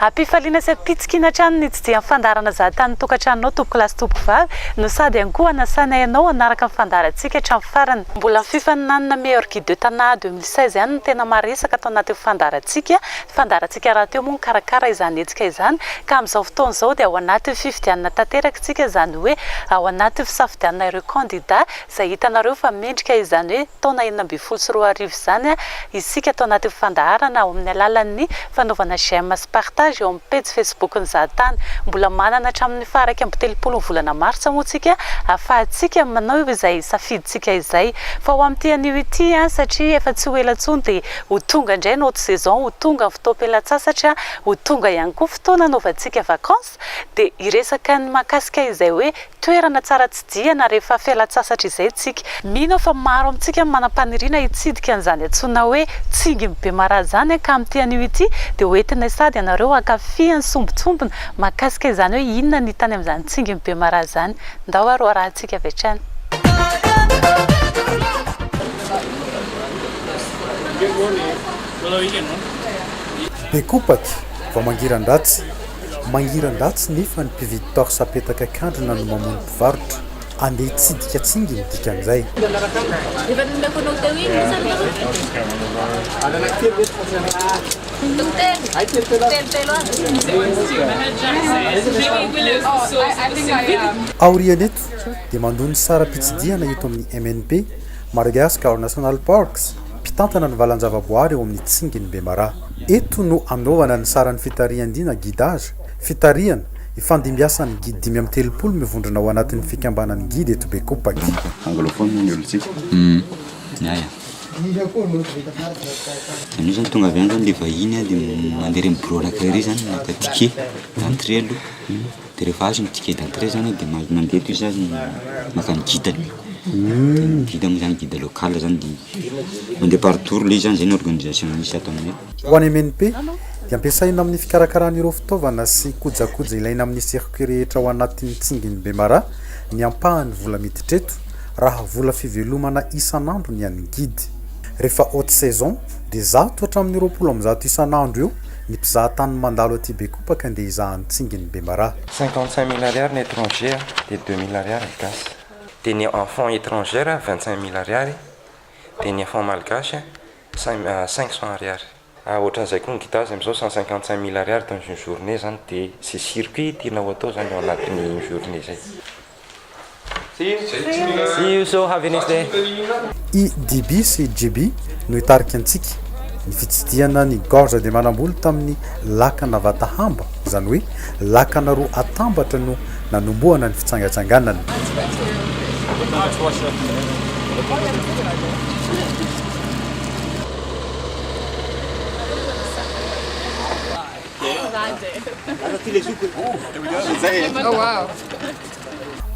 Am-pifaliana sy am-pitsikiana hatrany ny tsidihan'ny fandaharana Za Tany Tokantranonao Tompokolahy sy Tompovavy no sady ihany koa hanasanay anao hanaraka ny fandaharantsika hatramin'ny farany. Mbola ny fifaninanana Meilleur Guide de Tana deux mille seize ihany no tena maresaka tao anatin'ny fandaharantsika. Ny fandaharantsika rahateo moa nikarakara izany hetsika izany ka amin'izao fotoana izao dia ao anatin'ny fifidianana tanteraka isika izany hoe ao anatin'ny fisafidianana ireo kandida Izay hitanareo fa mendrika izany hoe taona enina ambin'ny folo sy roa arivo izany isika tao anatin'ny fandaharana ao amin'ny alalan'ny fanaovana j'aime sy partage eo amin'ny pejy facebook ny Zahatany. Mbola manana hatramin'ny faha iraika amby telopolo ny volana martsa moa tsika ahafahantsika manao izay safidintsika izay. Fa ho amin'ity anio ity satria efa tsy ho ela intsony dia ho tonga indray ny haute saison, ho tonga ny fotoam-pialantsasatra, ho tonga ihany koa fotoana hanaovantsika vacances. Dia hiresaka ny mahakasika izay hoe toerana tsara tsidihana rehefa fialan-tsasatra izay isika. Mino aho fa maro amintsika no manam-paniriana hitsidika an'izany antsoina hoe Tsingin'i Bemaraha izany ka amin'ity anio ity dia ho entinay sady ianareo hankafy ny sombintsombiny mahakasika izany hoe inona ny hita any amin'izany Tsingin'i Bemaraha izany. Ndao ary ho arahintsika avy hatrany. Be kopaky vao mangiran-dratsy. Mangiran-dratsy nefa ny mpividy torse apetaka an-kandrina no mamono mpivarotra. Andeha hitsidika tsingy ny dikan'izay. Aorian'eto dia mandoa ny saram-pitsidihana eto amin'ny MNP, Madagascar National Parks, mpitantana ny valan-javaboahary eo amin'ny tsingin'i Bemaraha. Eto no anaovana ny saran'ny fitarihan-dina, guidage, fitarihana, ifandimbiasan'ny guide dimy amby telopolo mivondrona ao anatin'ny fikambanan'ny guide eto Bekopaky. Anglophone ny olontsika. Ny ahy a. Anio zany tonga avy any zany le vahiny a de mandeha reny biraonakay reny zany maka ticket d'entrée aloha. Dia rehefa azo ny ticket d'entrée zany dia mahazo mandeha toy izany maka ny guide-ny. Ny guide moa zany guide local zany dia mandeha par tour ilay izy zany, izay no organisation misy ato aminay. Ho an'ny MNP dia ampiasaina amin'ny fikarakarana ireo fitaovana sy kojakoja ilaina amin'ny circuit rehetra ao anatin'ny tsingin'i Bemara ny ampahany vola miditra eto raha vola fivelomana isan'andro ny an'ny guide. Rehefa haute saison dia zato hatramin'ny roapolo amby zato isan'andro eo Ny mpizaha tany no mandalo aty Bekopaka ndeha hizaha ny tsingin'ny bemaraha. Cinquante cinq mille ariary ny étranger a, dia deux mille ariary ny gasy. Dia ny enfant étranger a vingt cinq mille ariary, dia ny enfant malgache a cinq cinq cent ariary. Ah ohatran'izay koa ny guitase amin'izao cent cinquante cinq mille ariary dans une journée zany dia ze circuit tianao atao zany ao anatin'ny une journée zay. See you so have a nice day. I DB sy JB no hitarika antsika. Ny fitsidihana ny Gorge de Manamboly tamin'ny lakana Vatahamba, izany hoe lakana roa atambatra no nanombohana ny fitsangantsanganana.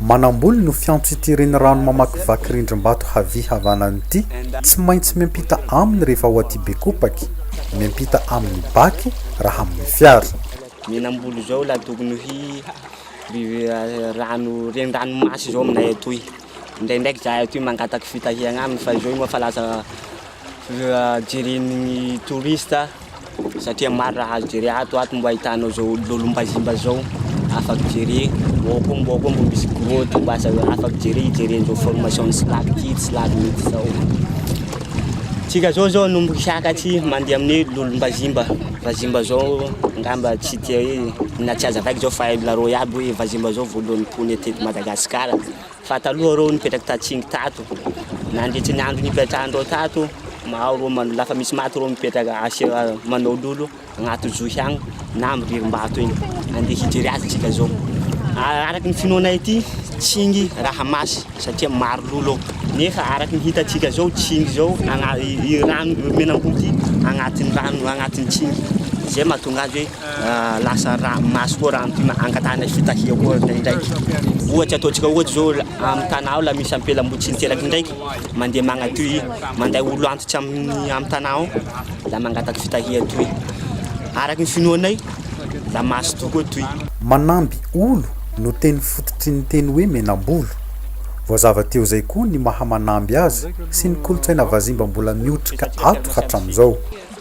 Manamboly no fiantso ity renirano mamakivaky rindrim-bato havia havanana ity. Tsy maintsy miampita aminy rehefa ao aty Bekopaky, miampita amin'ny baky raha amin'ny fiara. Ny namboly izao ilay tokony ho rano renirano masy izao aminay atoy. Indraindraiky izahay atoy mangataka fitahiana aminy fa izao moa efa lasa jeren'ny touriste. satria maro raha azo jere ato ato mbo ahitanao zao lolombazimba zao afak jere ao koa mbo ao koa mbo misy grotte mbo azo afak jere hijereny zao formation ny silako ty tsy lany mitsy zao tsika zao zao nomboky hiaka tsy mandeha amin'ny lolombazimba vazimba zao ngamba tsy tia hoe na tsy aza vaika zao fa hainareo iaby hoe vazimba zao voalohany pony atety madagasikara Fa taloha ireo nipetraka tatsimo tato, nandritry ny andro nipetrahan'ireo tato, maro ireo man- lafa misy maty ireo mipetraka asio manao lolo agnaty zo ihany na amin'ny ririm-bato eny, andeha hijery azy tsika zao. Araky ny finoanay ity, tsingy raha masy satria maro lolo ao, nefa araky ny hitantsika zao tsingy zao agna- i rano menamboho ty agnatin'ny rano agnatin'ny tsingy, zay mahatonga azy hoe. lasa ra maso koa raha mty angatahana fitahiana koa indraindraiky ohatra ataontsika ohatra zao amin'ny tana ao la misy ampelambo tsy niteraky indraiky mandeha magnatoy manday olo antitra amin'ny amin'ny tana ao la mangataky fitahia toy araky ny finoanay la maso tokoa toy Manamby olo no teny fototry ny teny hoe menambolo. Voazava teo izay koa ny maha manamby azy sy ny kolontsaina vazimba mbola miotrika ato hatramin'izao.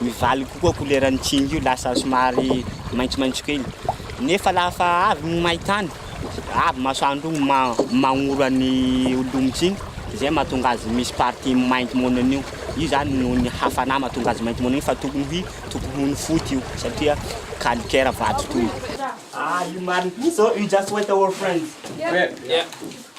Mivaly kokoa koleran'ny tsingy io, lasa somary maitsomaitso kely. Nefa lafa avy ny main-tany, avy masoandro io ma- magnoro an'i olon-tsingy, de zay mahatonga azy misy partie mainty monina io. Io zany noho ny hafanà mahatonga azy mainty monina io fa tokony ho i- tokony ho ny foty io satria calcaire vato toy. Ah, io marina. So, you just wait our friends.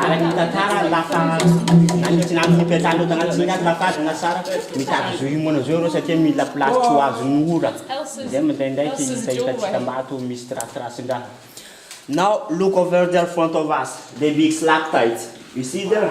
Araka ny tantara, lasa nanintona amin'ny mpiantsaham-baovao an'i Singapore fa fady na tsara mitady zo himoana zao ireo satria mila place tsy ho azon'ny ora. Izay mandraindraiky ny fahitatsika maty misy tirathirasin-draha. Now look over there front of us, the big stalactites. You see there?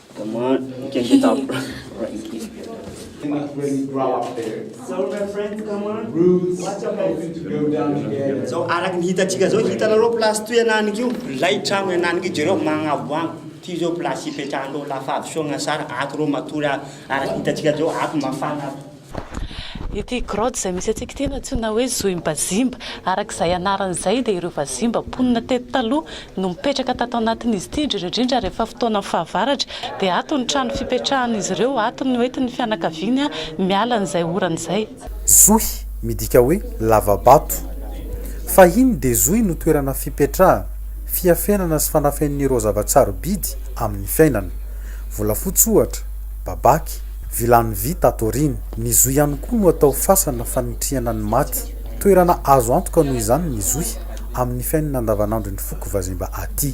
Come on, you can get up. Zao araka ny hitantsika zao hitanareo place toy ananiko io lay tragno ananiko io jereo magnavoango ty zao place ipetrahanareo lafa avy soa gnasara ato reo matory araky hitantsika zao ato mafana ato Ity grotte izay misy antsika ity no antsoina hoe Zohimbazimba. Araka izay anarany izay dia ireo vazimba mponina teto taloha no mipetraka tato anatin'izy ity, indrindra indrindra rehefa fotoanan'ny fahavaratra dia ato no trano fipetrahan'izy ireo, ato no entin'ny fianakaviany miala an'izay orana izay. Zohy midika hoe lava-bato. Fahiny dia zohy no toerana fipetrahana, fiafenana sy fanafenan'ireo zava-tsarobidy amin'ny fiainana. Volafotsy ohatra, babaky, Vilany vy tato aoriana. Ny zohy ihany koa no atao fasana fanitrihana ny maty. Toerana azo antoka noho izany ny zohy amin'ny fiainana andavanandron'ny foko vazimba aty.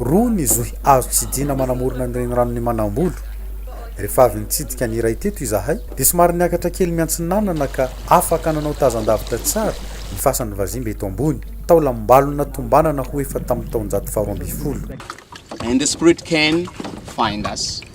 Roa ny zohy azo tsidihina manamorona ny reniranon'i Manambolo. Rehefa avy nitsidika ny iray teto izahay dia somary niakatra kely miantsinanana ka afaka nanao tazan-davitra tsara ny fasan'ny vazimba eto ambony, taolam-balona tombanana ho efa tamin'ny taonjato faharoa ambin'ny folo. And the spirit can find us.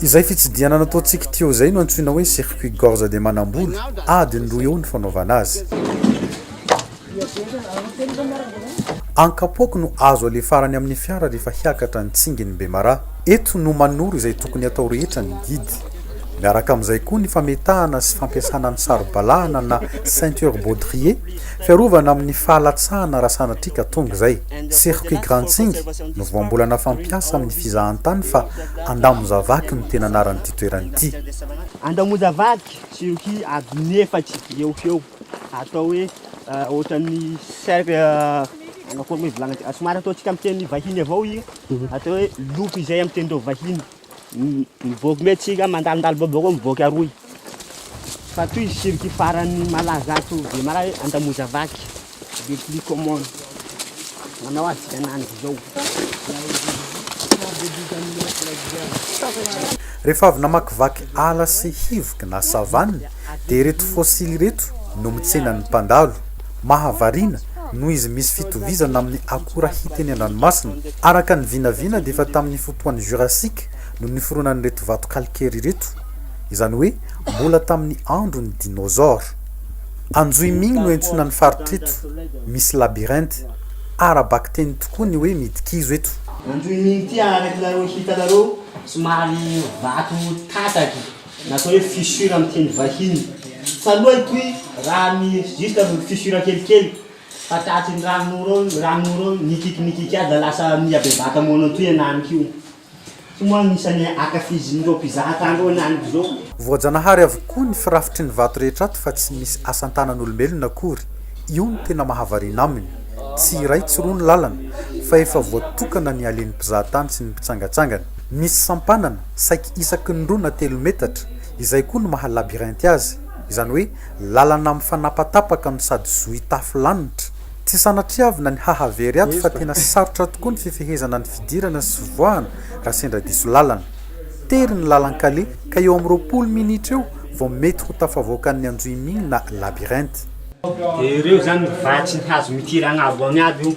Izay fitsidihana nataontsika Teo izay no antsoina hoe circuit gorge de Manamboly, adiny roa eo ny fanaovana azy. Ankapoako no azo alefarany amin'ny fiara rehefa hiakatra ny tsingin'i Bemaraha. Eto no manoro izay tokony hatao rehetra ny guide. Miaraka amin'izay koa ny fametahana sy fampiasana ny saro-balahana na ceinture baudrier, fiarovana amin'ny fahalatsahana raha sanatria ka tonga izay. Circuit Grantsing no voambolana fampiasa amin'ny fizahantany fa Andamozavaky no tena anaran'ity toerana ity. Andamozavaky, circuit adiny efatra eo ho eo, atao hoe ohatran'ny cercle, angamba koa aloha ny hivolagna antsika, somary ataontsika amin'ny teny vahiny avao io, atao hoe loop izay amin'ny tenin-dReo vahiny. Mivoaka mety tsika mandalondalo boboko mivoaka aroy. Fa toy izy circuit farany malaza ato Bemaraha hoe Andamoza vaky. Le plus common. Manao azy tsika ananjy izao. Rehefa avy namakivaky ala sy hivoky na savane, Dia ireto fossile ireto no mitsena ny mpandalo. Mahavariana, noho izy misy fitovizana amin'ny akora hita eny an-dranomasina. Araka ny vinavina dia efa tamin'ny fotoan'ny Jurassique no niforonan'ireto vato calcaire ireto, izany hoe mbola tamin'ny andron'ny dinosaures. Anjohiming no iantsoana ny faritra eto, misy labyrinthe. Ara-bakiteny tokoa ny hoe midikizo eto. Anjohiming ity arakinareo hitanareo somary vato tataky. Natao hoe fissure amin'ny teny vahiny. Taloha itoy raha ny juste ny fissure kelikely fa tratry ny ranon'ora ao, ny ranon'ora ao nikiky nikiky aza lasa nihabebaka moana toy an'any koa. Ity moa no isan'ny ankafizin'ireo mpizaha tany ireo ny aniko izao. Voajanahary avokoa ny firafitry ny vato rehetra ato fa tsy misy asan-tanan'olombelona akory, io no tena mahavariana aminy. Tsy iray tsy roa ny lalana fa efa voatokana ny halen'ny mpizahatany sy ny mpitsangatsangana. Misy sampanana, Saiky isaky ny roa na telo metatra, izay koa no maha labyrinthe azy, izany hoe lalana mifanapatapaka no sady zohy tafo lanitra. Tsy sanatriavina ny hahavery ato fa tena sarotra tokoa ny fifehezana ny fidirana sy fivoahana raha sendra diso lalana. Tery ny lalan-kaleha ka eo amin'ny roapolo minitra eo vao mety ho tafavoakan'ny anjohimihy na labyrinthe. Dia ireo izany vatsy ny hazo mitirana avoany aby io.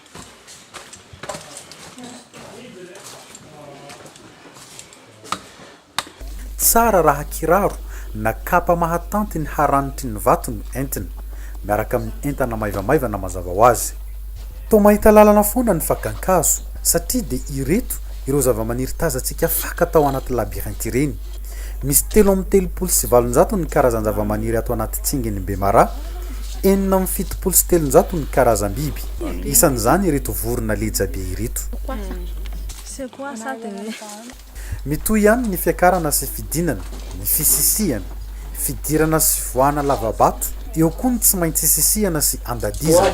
Tsara raha kiraro na kapa mahatanty ny haranitry ny vato no entina, miaraka amin'ny entana maivamaivana mazava ho azy. Toa mahita lalana foana ny fakan-kazo, satria dia ireto ireo zavamaniry tazantsika faka tao anaty labyrinthe ireny. Misy telo amby telopolo sy valonjato ny karazan-javamaniry ato anaty tsingin'i Bemara, enina amby fitopolo sy telonjato ny karazam-biby, isan'izany ireto vorona lejabe ireto. Mitohy ihany ny fiakarana sy fidinana, ny fisisihana, fidirana sy fivoahana lava-bato, eo koa ny tsy maintsy isisihana sy andadizana.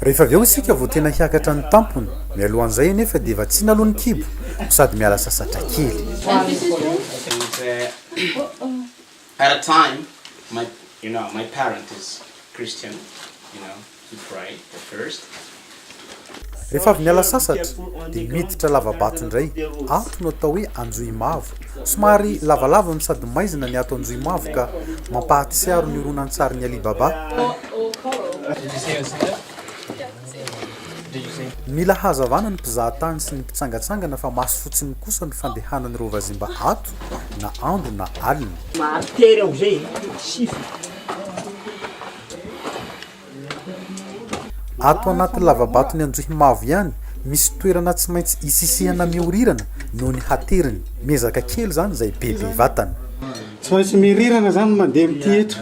Rehefa avy eo isika vao tena hiakatra ny tampony, mialohan'izay anefa dia vatsiana aloha ny kibo no sady miala sasatra kely. Rehefa avy niala sasatra dia miditra lavabato indray, ato no atao hoe Anjohimavo. Somary lavalava no sady maizina ny ato Anjohimavo ka mampahatsiaro ny horonantsarin'i Ali Baba. Mila hazavana ny mpizahatany sy ny mpitsangatsangana fa maso fotsiny kosa ny fandehanan'ireo vazimba ato na andro na alina. Ato anaty lavabaton'i Anjohimavo ihany, misy toerana tsy maintsy isisihana miorirana noho ny hateriny. Miezaka kely izany izay bebe vatana. Tsy maintsy mirirana izany ny mandeha amin'ity eto.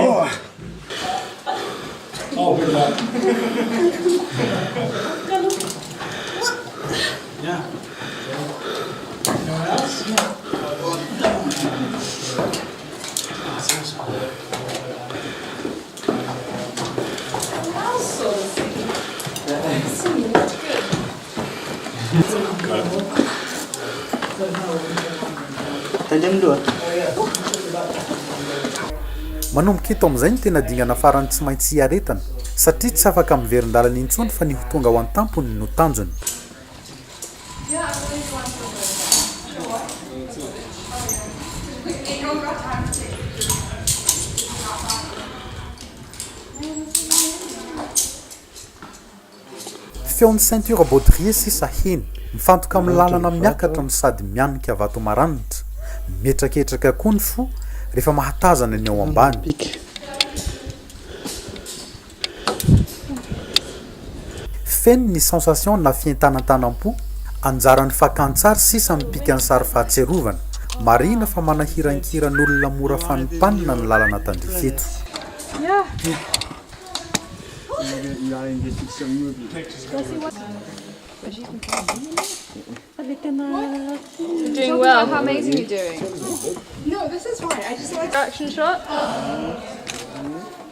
Ohh. Manomboka eto amin'izay ny tena dingana farany tsy maintsy hiaretana, satria tsy afaka miverin-dalana intsony fa ny ho tonga ao an-tampony no tanjony. Feon'ny ceinture baudrier sisa heny, mifantoka amin'ny lalana miakatra no sady mianika vato maranitra. Mihetraketraka koa ny fo rehefa mahatazana ny ao ambany. Feno ny sensation na fientanatanam-po, anjaran'ny fakantsary sisa mipika ny sary fahatsiarovana. Marihina fa manahirankiran'olona mora fanimpanina ny lalana tandrify eto.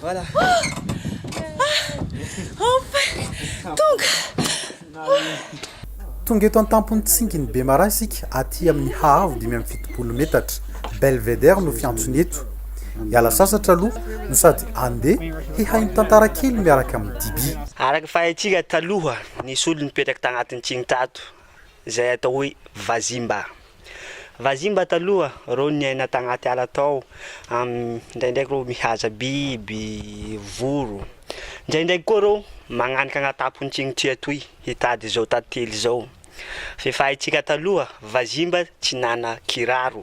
Voilà. Tonga eto an-tampon'ny tsingin'i Bemaraha isika aty amin'ny haavo dimy amby fitopolo metatra. Belvedere no fiantsony eto. Hiala sasatra aloha no sady andeha hihaino tantara kely miaraka amin'ny Diby. Araka ny fahaitsika taloha, nisy olona nipetraka tagnatin'ny tsiny tato. izay atao hoe vazimba. Vazimba taloha reo niaina tagnaty ala tao, ndraindraiky reo mihaza biby, voro. Ndraindraiky koa reo magnanika agnataponts'igny tsy atoy hitady zao tantely zao. Fe fahaitsika taloha vazimba tsy nana kiraro.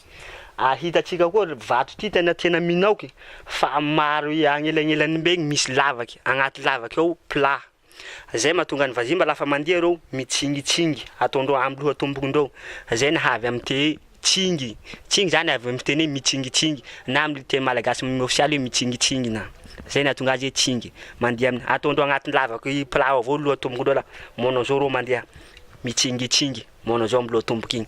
ary hitantsika koa vato ty tena tena minoky fa maro agnelanelany be misy lavaky agnaty lavaky ao plat zay mahatonga ny vazimba lafa mandeha reo mitsingitsingy ataondreo amy loha tombokondreo zay naha avy amy te tsingy tsingy zany avy amy teny hoe mitsingitsingy na amy teny malagasy m ofisialy hoe mitsingitsingy na zay nahatonga azy hoe tsingy mandeha amy ataondreo agnaty lavaky plat ao avao loha tombokondreo la manao zao reo mandeha mitsingitsingy Monozombo lotomboka iny.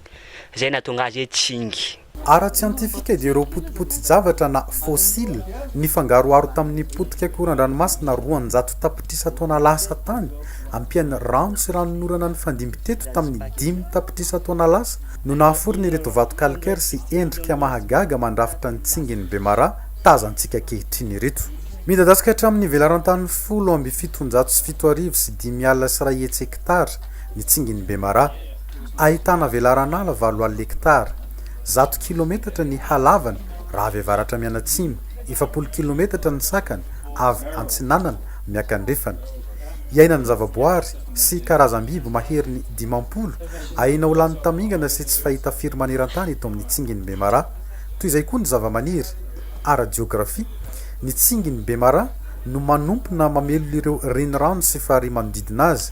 Izay nahatonga azy hoe Tsingy. Ara-tsiantifika dia ireo potipoti-javatra na fossiles nifangaroharo tamin'ny potika koran-dranomasina roanjato tapitrisa taona lasa tany, ampian'ny rano sy ranon'orana nifandimby teto tamin'ny dimy tapitrisa taona lasa, no nahaforona ireto vato calcaire sy endrika mahagaga mandrafitra ny tsingin'i Bemara tazantsika ankehitriny ireto. Midadasika hatramin'ny velaran-tany folo amby fitonjato sy fito arivo sy dimy alina sy iray hetsy hektara, ny tsingin'i Bemaraha, ahitana velaran'ala valo alina hektara, zato kilometatra ny halavany raha avy avaratra mianatsimo, efapolo kilometatra ny sakany avy antsinanana miakandrefana. Iainan'ny zavaboary sy karazam-biby maherin'ny dimampolo aina ho lany tamingana sy tsy fahita firy maneran-tany eto amin'ny tsingin'i Bemaraha. Toy izay koa ny zavamaniry. Ara-jeografia, ny tsingin'i Bemaraha no manompona mamelona ireo renirano sy farihy manodidina azy.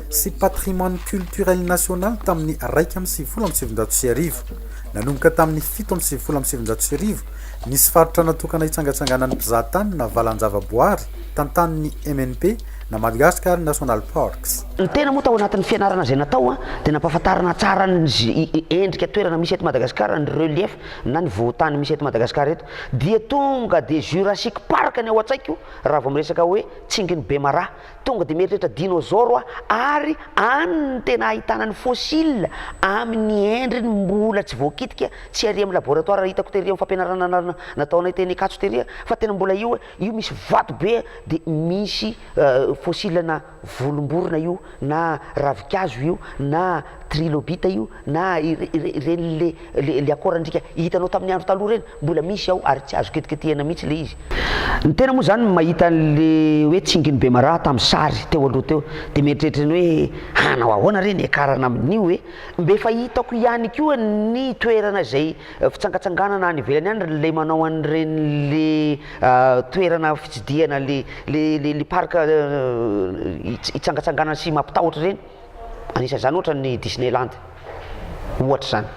sy patrimoine culturel national tamin'ny iraika amby sivifolo amby sivinjato sy arivo. Nanomboka tamin'ny fito amby sivifolo amby sivinjato sy arivo, nisy faritra natokana hitsangatsanganan'ny mpizahatany na valan-javaboary tantanin'ny MNP na Madagascar National Parks. Ny tena moa tao anatin'ny fianarana izay natao dia nampahafantarana tsara ny endrika toerana misy eto Madagascar, ny relief na ny vohon-tany misy eto Madagascar eto. Dia tonga dia Jurassic Park ny ao an-tsaiko raha vao miresaka hoe Tsingin'i Bemaraha. Tonga dia mieritreritra dinôzôro aho ary any no tena ahitana ny fôsila amin' ny endriny mbola tsy voakitika, tsy ary amin' ny labôratoara hitako tery amin' ny fampianarana anarana nataonay teny Ankatso tery fa tena mbola io io misy vato be dia misy fôsila na volom-borona io na ravin-kazo io na trilobita io Na ireny le le akoran-driaka hitanao tamin'ny andro taloha ireny, mbola misy ao ary tsy azo ketiketehina mihitsy le izy. Ny tena moa izany mahita an'le hoe tsingin'i Bemaraha tamin'ny sary teo aloha teo dia mieritreritra ny hoe hanao ahoana re ny hiakarana amin'io e? Mbe efa hitako ihany koa ny toerana izay fitsangatsanganana any ivelany any le manao an'ireny le toerana fitsidihana le le le parc hitsangatsanganana sy mampitahotra ireny. Anisan'izany ohatra ny Disneyland ohatra izany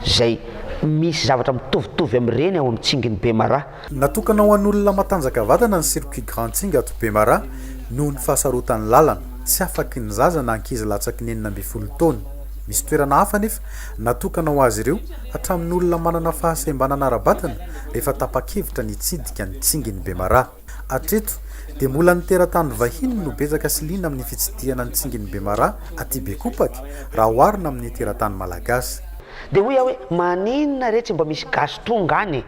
izay misy zavatra mitovitovy amin'ireny ao amin'ny Tsingin'i Bemaraha. Natokana ho an'olona matanjaka vatana ny Circuit Grand Tsing ato Bemaraha noho ny fahasarotan'ny lalana, tsy afaky ny zaza na ankizy latsaky ny enina ambin'ny folo taona. Misy toerana hafa anefa natokana ho azy ireo hatramin'ny olona manana fahasembanana ara-batana rehefa tapa-kevitra ny hitsidika ny Tsingin'i Bemaraha. Hatreto dia mbola ny teratany vahiny no betsaka sy liana amin'ny fitsidihana ny tsingin'i Bemara aty Bekopaky raha oharina amin'ny teratany malagasy. Dia hoy aho hoe maninona re tsy mba misy gasy tonga any e!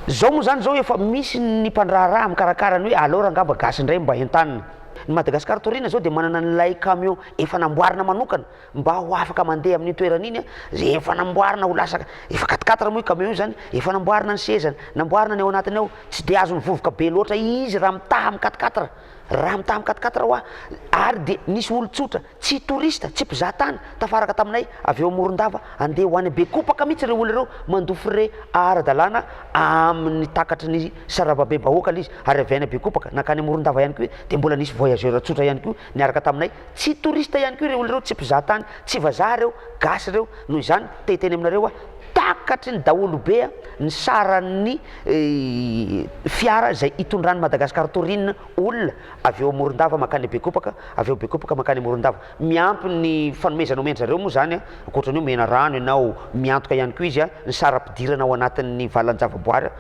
Zao moa zany zao efa misy ny mpandraharaha mikarakara ny hoe alors angamba gasy indray mba entanina. Ny Madagascar Taurine zao dia manana an'ilay camion efa namboarina manokana Mba ho afaka mandeha amin'iny toerana iny izay efa namboarina ho lasa efa quatre quatre moa io camion io izany, efa namboarina ny sezany, namboarina ny ao anatiny ao, tsy dia azony vovoka be loatra izy raha mitaha amin'ny quatre quatre, raha mitaha amin'ny quatre quatre hoa, ary dia nisy olon-tsotra, tsy touriste, tsy mpizaha tany, tafaraka taminay avy eo Morondava handeha ho any Bekopaka mihitsy ireo olona ireo mandoa frais ara-dalàna amin'ny takatry ny sarababem-bahoaka lzy ary avy any Bekopaka nankany Morondava ihany koa dia mbola nisy voyageur tsotra ihany koa Niaraka taminay, tsy touriste ihany koa ireo olona ireo, tsy mpizaha tany, tsy vazaha ireo, gasy ireo, noho izany te hiteny aminareo aho, takatry ny daholo be ny saran'ny fiara izay hitondran'i Madagascar Tourin olona avy eo Morondava mankany Bekopaka, avy eo Bekopaka mankany Morondava. Miampy ny fanomezana omen-dry zareo moa izany, ankoatra ny hoe omena rano ianao, miantoka ihany koa izy ny saram-pidirana ao anatin'ny valan-javaboary,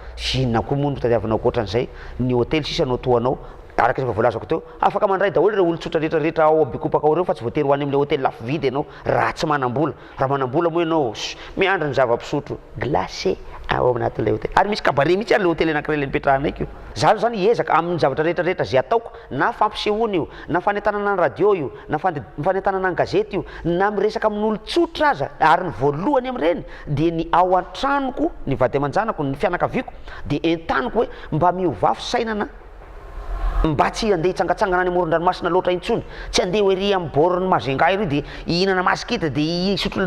inona koa moa no tadiavinao ankoatra an'izay, ny hotely sisa no tohanao, araka izay efa voalazako teo. Afaka mandray daholo ireo olon-tsotra rehetra rehetra ao Abikopaka ao ireo fa tsy voatery ho any amin'ilay hotely lafo vidy ianao raha tsy manam-bola. Raha manam-bola moa ianao, miandry ny zava-pisotro glacé ao anatin'ilay hotely. Ary misy cabaret mihitsy ary ilay hotely anankiray ilay nipetrahanay ko. Za aloha zany hiezaka amin'ny zavatra rehetra rehetra ze ataoko, na fampisehoana io, na fanentanana ny radio io, na fande, fanentanana ny gazety io, na miresaka amin'olon-tsotra aza, ary ny voalohany amin'ireny dia ny ao an-tranoko, ny vady aman-janako, ny fianakaviako dia entaniko hoe mba miovafy sainana, Mba tsy handeha hitsangatsangana any amoron-dranomasina loatra intsony, tsy handeha ho ery amin'ny bord-n'i Majunga ery dia hihinana masikita dia hisotro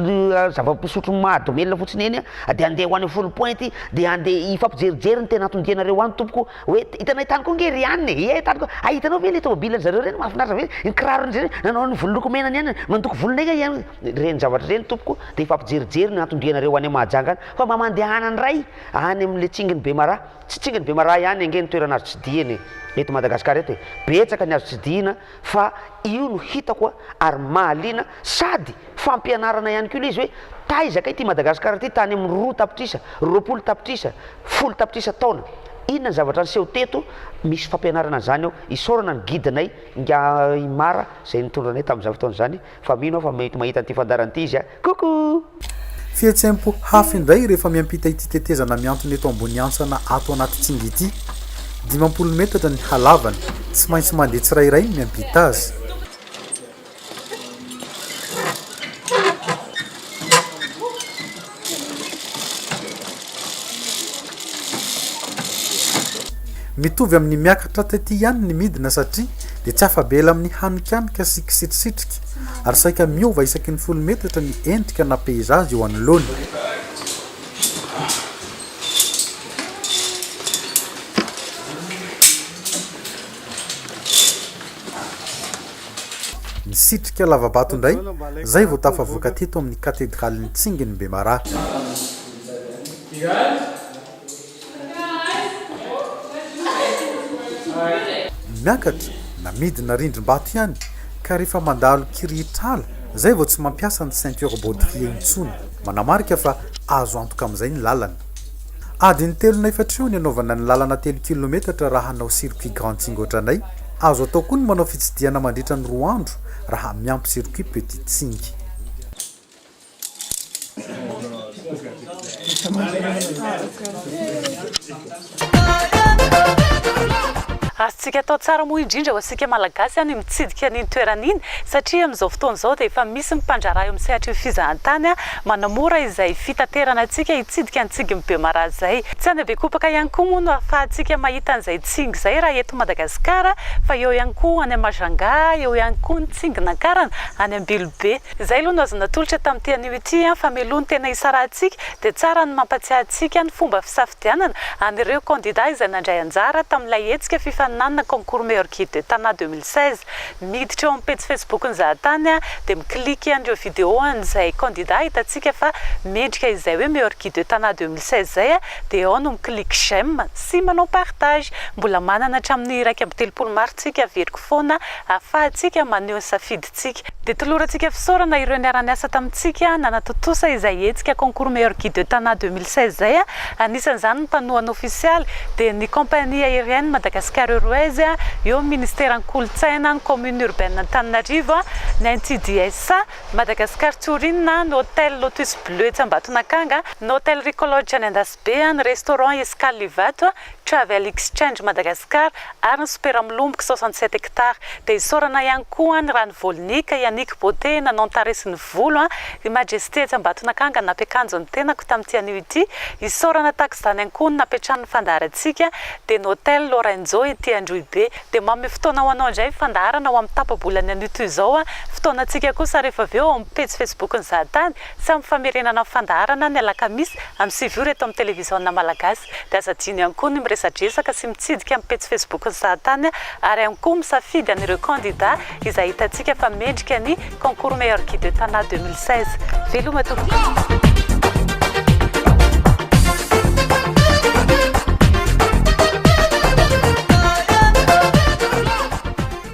zava-pisotro mahadomelina fotsiny eny a, dia handeha ho any Foul Point dia handeha hifampijerijery ny tena atondianareo any tompoko hoe hitanay tany koa nge ry any e, ie tany koa, ah hitanao ve ilay tomobilin'ny zareo ireny mahafinaritra be, ny kirarony izay nanao ny volo loko mena ny any, mandoko volo nge i any, ireny zavatra ireny tompoko dia hifampijerijery ny atondianareo any Mahajanga any fa mba mandehana indray any amin'ilay tsingin'i Bemaraha. Tsy tsinginy bemaraha ihany ange ny toerana azo tsidihina e! Eto Madagascar eto e! Betsaka ny azo tsidihina fa io no hitako a! ary mahaliana sady fampianarana ihany koa le izy hoe taiza kay ty Madagascar ty tany amin'ny roa tapitrisa, roapolo tapitrisa, folo tapitrisa taona? Inona ny zavatra niseho teto? Misy fampianarana an'izany ao, isaorana ny guide-nay Ingahy Mara izay nitondra anay tamin'izany fotoana izany. Fa mino aho fa mety mahita an'ity fandaharana ity izy a! Coucou! Fihetseham-po hafa indray rehefa miampita ity tetezana mihantona eto Amboniantsana ato anaty Tsingy ity. Dimampolo metatra ny halavany. Tsy maintsy mandeha tsirairay ny miampita azy. Mitovy amin'ny miakatra taty ihany ny midina satria dia tsy afa-bela amin'ny hanikanika sy kisitrisitrika ary saika miova isaky ny folo metatra ny endrika na peizazy eo anoloany. Nisitrika lava-bato indray, izay vao tafavoaka teto amin'ny Katedralin'ny Tsingin'i Bemaraha. Miakatra, na midina rindrim-bato ihany, ka rehefa mandalo kirihitr'ala, izay vao tsy mampiasa ny ceinture baudrier intsony. Manamarika fa azo antoka amin'izay ny lalana. Adiny telo na efatra eo ny hanaovana ny lalana telo kilometatra raha hanao circuit grand tsingy ohatranay. Azo atao koa ny manao fitsidihana mandritra ny roa andro raha miampy circuit petit tsingy. Azontsika atao tsara moa indrindra ho antsika Malagasy ny mitsidika an'iny toerana iny satria amin'izao fotoana izao dia efa misy ny mpandraharaha eo amin'ny sehatr'io fizahantany Manamora izay fitaterana antsika hitsidika ny tsingin'i Bemaraha izay. Tsy any Bekopaka ihany koa moa no ahafahantsika mahita an'izay tsingy izay raha eto Madagasikara fa eo ihany koa any Mahajanga, eo ihany koa ny tsingin'Ankarana any Ambilobe. Izay aloha no azo natolotra tamin'ity anio ity fa mialoha ny tena hisarahantsika dia tsara ny mampatsiahy antsika ny fomba fisafidianana an'ireo kandida izay nandray anjara tamin'ilay hetsika fifaninanana Concours Meilleur Guide de Tana deux mille seize Miditra eo amin'ny pejy Facebook ny zahatany dia mi-cliquer an'ireo vidéo an'izay candidat hitantsika fa mendrika izay hoe meilleur guide de Tana deux mille seize izay dia ao no mi-clique j'aime sy manao partage. Mbola manana hatramin'ny iraika amby telopolo mars tsika averiko foana ahafahantsika maneho ny safidintsika. Dia tolorantsika fisaorana ireo niara-niasa tamintsika nanatontosa izay hetsika concours meilleur guide de Tana deux mille seize izay. Anisan'izany ny mpanohana ofisialy dia ny compagnie aérienne Madagascar Airways, eo ny ministeran'ny kolontsaina, ny commune urbaine Antananarivo, ny NCDSA, Madagascar Tourin, ny hotel Lotus Bleu etsy Ambatonakanga, ny hotel Ricolodge any Andasibe, ny restaurant Escale Ivato, Travel Exchange Madagascar ary ny Super Mlomboky soixante sept hectares. Dia isaorana ihany koa ny Rano Volnique, Yannick Beauté nanao ny tarehy sy ny volo, i Majesté etsy Ambatonakanga nampiakanjo ny tenako tamin'ity anio ity, isaorana tahaka izany ihany koa ny nampiantrano ny fandaharantsika dia ny Hotel Lorenzo ety Androhibe. Dia manome fotoana ho anao indray ny fandaharana ho amin'ny tapa-bolan'ny anio toy izao, fotoanantsika kosa rehefa avy eo ao amin'ny pejy Facebook-n'ny Zahatany sy amin'ny famerenana ny fandaharana ny alakamisy amin'ny sivy ora eto amin'ny Televiziona Malagasy. Dia aza adino ihany koa ny miresadresaka sy mitsidika amin'ny pejy Facebook-n'ny Sahatany ary ihany koa misafidy an'ireo kandida izay hitantsika fa mendrika ny Concours Meilleur Guide de Tana deux mille seize. Veloma tompoko!